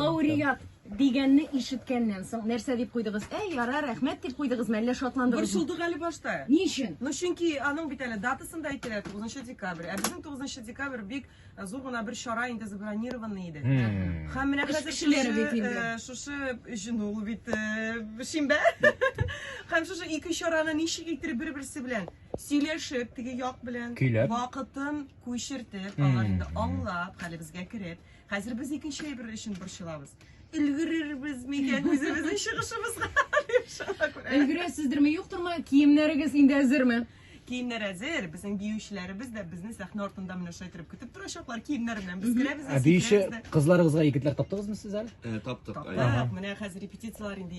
Лауреат дигәнне ишеткәннән соң, нәрсә дип куйдыгыз? Әй, яра, рәхмәт дип куйдыгызмы, әллә шатландыгызмы? Борчылдык әле башта. Ни өчен? Ну, чөнки аның бит әле датасын да әйтәләр, 9 декабрь. Ә безнең 9 декабрь бик э, зур гына бер чара инде забронированный иде. Һәм менә Эш хәзер кешеләре шушы, бит инде. э, шушы җен ул бит э, шимбә. Һәм шушы ике чараны ничек иттереп бер-берсе белән сөйләшеп, теге як белән Көйләп. вакытын күчертеп, алар инде аңлап, хәлебезгә кереп, Хәзер без икенче әйбер өчен борчылабыз. Өлгерербез микән үзебезнең чыгышыбызга? Өлгерәсездерме, юктырмы? Киемнәрегез инде әзерме? Киемнәр әзер, безнең биючеләребез дә безне сәхнә артында менә шулай торып көтеп торачаклар киемнәр белән. Без керәбез дә, Ә биюче сикерәбез дә. кызларыгызга егетләр таптыгызмы сез әле? Ә, таптык. Таптык, менә хәзер репетицияләр инде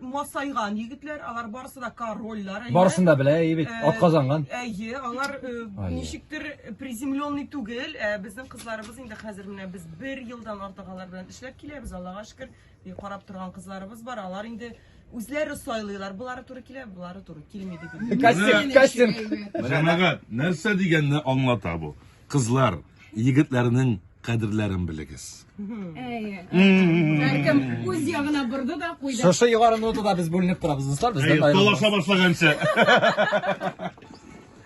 масайган егетләр, алар барысы да корольлар. әйе. Барысын да белә, әйе бит, Э, ат казанган. Әйе, алар э, Ай. ничектер приземленный түгел. Ә безнең кызларыбыз инде хәзер менә без бер елдан артык алар белән эшләп киләбез, Аллага шөкер. И карап торган кызларыбыз бар, алар инде үзләре сайлыйлар, булары туры килә, булары туры килми дип. Кастинг, кастинг. Җәмәгать, нәрсә дигәнне аңлата бу? Кызлар, егетләрнең кадерләрен белегез. Һәркем үз ягына борды да куйды. Шушы югары нотада без бүленеп торабыз, дуслар, бездән Әйе, аерылмагыз. талаша башлаганчы.